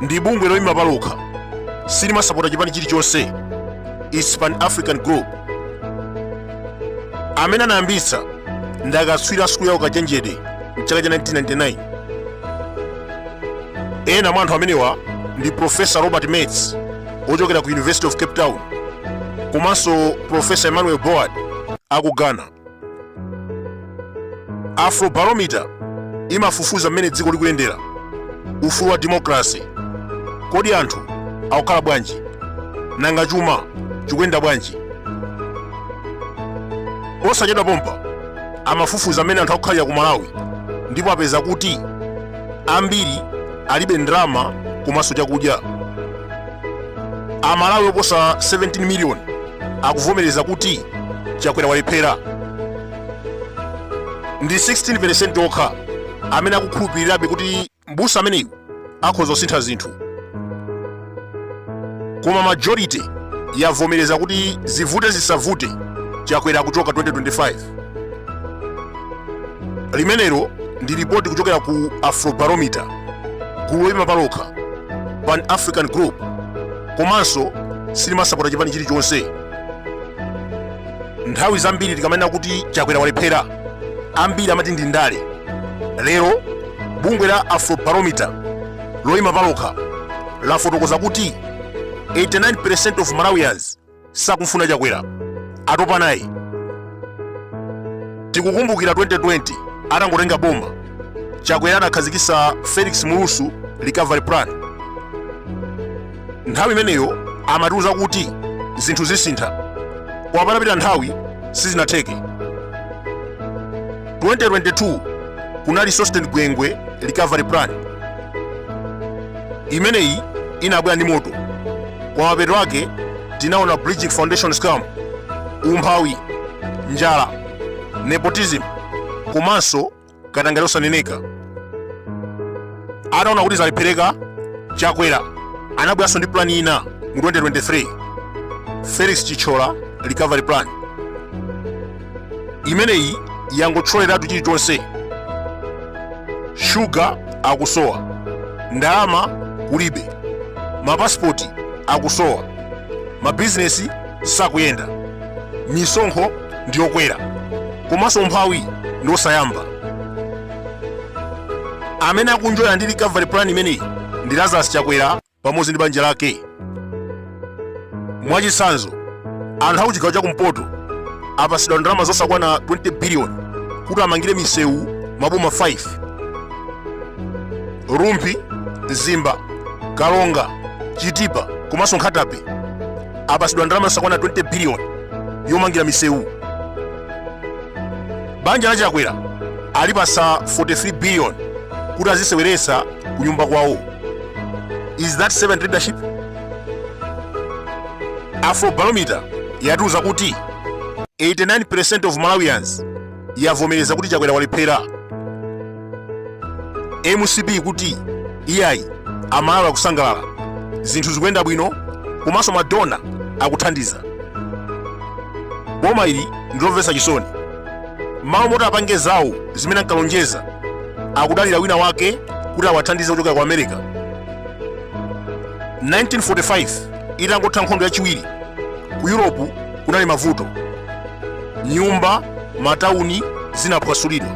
ndi bungwe loyima palokha silimasapota chipani chilichonse it's pan african group amene anayambitsa ndi akatswiri a sukulu ya ukachenjede mchaka cha 1999 ena mwa anthu amenewa ndi profesa robert mattes ochokera ku university of cape town komanso profesa emmanuel boadi aku ghana afrobarometer imafufuza mmene dziko likuyendera ufulu wa demokrasi kodi anthu akukhala bwanji nanga chuma chikuyenda bwanji posachedwa pompa amafufuza mmene anthu akukhalira ku malawi ndipo apeza kuti ambiri alibe ndalama komanso chakudya amalawi oposa 17 miliyoni akuvomereza kuti chakwera walephera ndi 16% yokha amene akukhulupirirabe kuti mbusa ameneyu akhoza kusintha zinthu koma majority yavomereza kuti zivute zisavute chakwera akuchoka 2025 limenelo ndi lipoti kuchokera ku afrobarometer gulu loyima palokha pan african group komanso silimasapota chipani chilichonse nthawi zambiri tikamanena kuti chakwera walephera ambiri amati ndi ndale lero bungwe la afrobarometer loyima palokha lafotokoza kuti 89% of malawians sakumfuna chakwera atopa naye tikukumbukira 2020 atangotenga boma chakwera anakhazikitsa felix mlusu recovery plan nthawi imeneyo amatiuza kuti zinthu zisintha koma patapita nthawi sizinatheke 2022 kunali sosten gwengwe recovery plan imeneyi inabwera ndi moto kwa mapeto ake tinaona bridgin foundation scam umphawi njala nepotism komanso katangale osaneneka ataona kuti zalephereka chakwera anabweranso ndi plani ina mu 2023 felix chithyola recovery plan imeneyi yangothyoleratu chilichonse shuga akusowa ndalama kulibe mapasipoti akusowa mabizinesi sakuyenda misonkho ndiyokwera komanso umphawi ndiosayamba amene akunjoya ndi recovery plan imeneyi ndi lazarus chakwera pamodzi ndi banja lake. Mwachitsanzo, anthu akuchigawo chakumpoto apatsidwa ndalama zosakwana 20 biliyoni kuti amangire misewu maboma 5 rumphi mzimba karonga chitipa komanso nkhata bay apatsidwa ndalama zosakwana 20 biliyoni yomangira misewu banja la chakwera alipatsa 43 biliyoni kuti aziseweretsa kunyumba kwawo is that servant leadership afrobarometer yatiuza kuti 89% of malawians yavomereza kuti chakwera walephera mcp kuti iyayi amalawi akusangalala zinthu zikuyenda bwino komanso madonna akuthandiza boma ili ndilomvetsa chisoni m'malo moti apange zawo zimene ankalonjeza akudalira wina wake kuti awathandize kuchokera ku america 1945 itangotha nkhondo yachiwiri ku yuropu kunali mavuto nyumba matawuni zinaphwasulidwa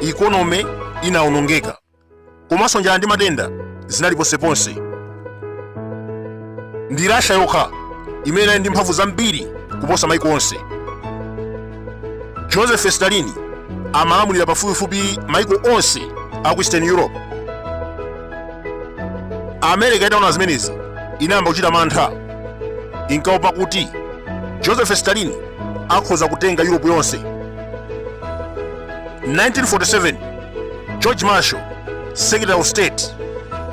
ikonome inawonongeka komanso njala ndi matenda zinali ponseponse ndi russia yokha imene inali ndi mphamvu zambiri kuposa maiko onse joseph stalin amalamulira pafupifupi maiko onse a ku eastern europe america itaona zimenezi inayamba kuchita mantha inkaopa kuti joseph stalin akhoza kutenga europe yonse 1947 george marshall secretary of state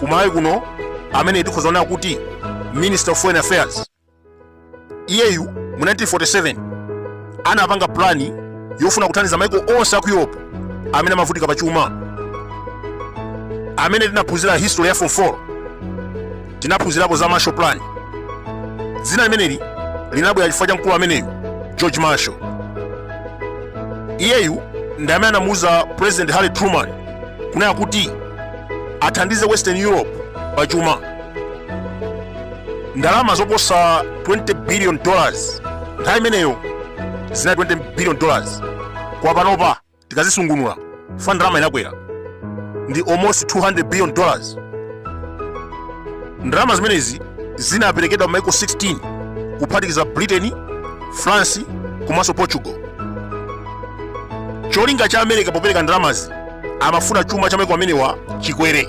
kumalawi kuno amene tikhoza kunena kuti minister of foreign affairs iyeyu mu 1947 anapanga plani yofuna kuthandiza maiko onse a ku europe amene amavutika pa chuma amene tinaphunzira history ya form 4 tinaphunzirapo za Marshall Plan. Dzina limeneli linabwera chifukwa cha mkulu ameneyu George Marshall. Iyeyu ndi amene anamuuza President Harry Truman kunena kuti athandize Western Europe pa chuma. Ndalama zoposa 20 billion dollars nthawi imeneyo zinali 20 billion dollars kwa panopa tikazisungunula chifukwa ndalama inakwera ndi almost 200 billion dollars ndalama zimenezi zinaperekedwa m'maiko 16 kuphatikiza britain france komanso portugal cholinga cha america popereka ndalamazi amafuna chuma cha maiko amenewa chikwere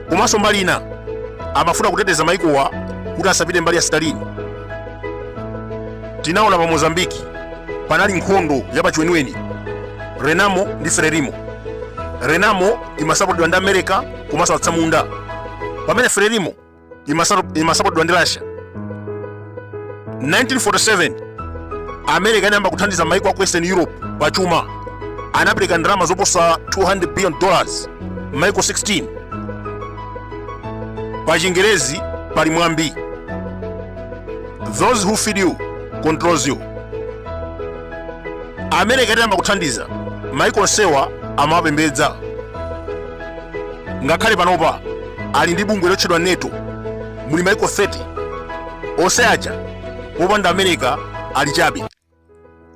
komanso mbali ina amafuna kuteteza maikowa kuti asapite mbali ya stalin tinaona pa mozambiki panali nkhondo ya pachiweniweni renamo ndi frelimo renamo imasapotedwa ndi america komanso atsamunda pamene frelimo imasapotedwa ndi russia 1947 america inayamba kuthandiza maiko a ku western europe pa chuma anapereka ndalama zoposa 200 billion dollars maiko 16 pa chingerezi pali mwambi those who feed you controls you america itayamba kuthandiza maiko onsewa amawapembedza ngakhale panopa ali ndi bungwe lotchedwa nato muli maiko 30 onse aja popanda america ali chabe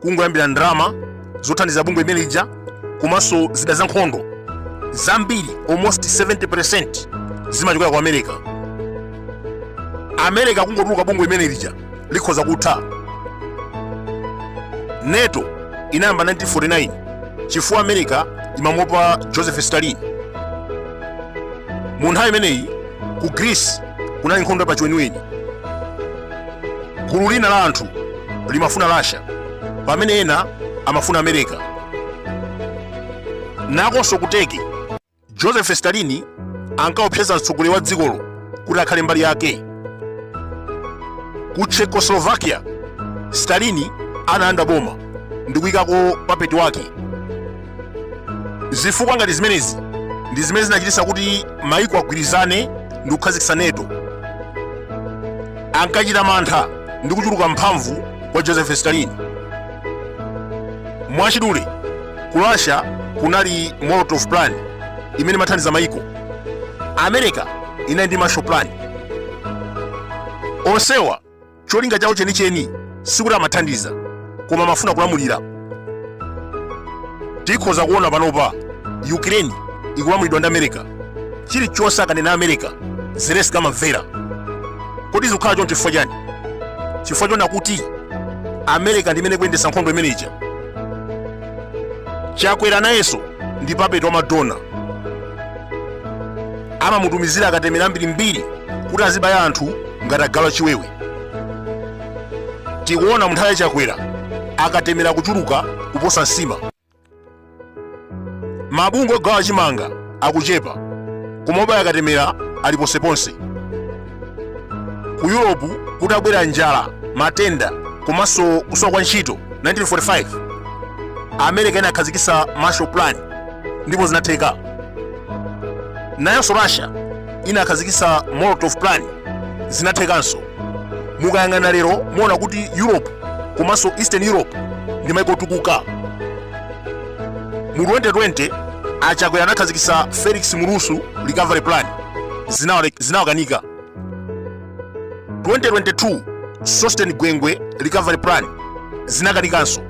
kungoyambira ndalama zothandiza bungwe imene lija komanso zida za nkhondo zambiri almost 70% zimachokera ku america america kungotuluka bungwe imene lija likhoza kutha nato inayamba 1949 chifukwa america imamuopa joseph stalin mu nthawi imeneyi ku greece kunali nkhondo ya pachiweniweni gulu lina la anthu limafuna russia pamene ena amafuna america nakonso ku turkey joseph stalin ankaopseza mtsogoleri wa dzikolo kuti akhale mbali yake ku czechoslovakia stalin analanda boma ndi kuyikako papeti wake zifukwa ngati zimenezi ndi zimene zinachititsa kuti maiko agwirizane ndi kukhazikitsa nato ankachita mantha ndi kuchuluka mphamvu kwa joseph stalin mwachidule ku russia kunali molotov plan imene imathandiza maiko america inali ndi marshall plan onsewa cholinga chawo chenicheni sikuti amathandiza koma amafuna kulamulira tikhoza kuona panopa ukraine ikulamulidwa ndi america chilichonse akanena america zelensky amamvera kodi zikukhala choncho chifukwa chani chifukwa chona kuti america ndimene kuyendesa nkhondo imene ija chakwera nayenso ndi papeti wa madona amamutumizira akatemera mbirimbiri kuti azibaya anthu ngati agalu a chiwewe tikuona munthawi ya chakwera akatemera kuchuluka kuposa nsima mabungwe ogawa chimanga akuchepa koma obaya akatemera ali ponseponse ku europe kutabwera njala matenda komanso kusowa kwa ntchito 1945 america inakhazikitsa marshall plan ndipo zinatheka nayonso russia inakhazikitsa molotov plan zinathekanso mukayang'ana lero muona kuti europe komanso eastern europe ndi maiko otukuka mu 2020 achakwera anakhazikitsa felix mulusu recovery plan zinawa- zinawakanika 2022 sosten gwengwe recovery plan zinakanikanso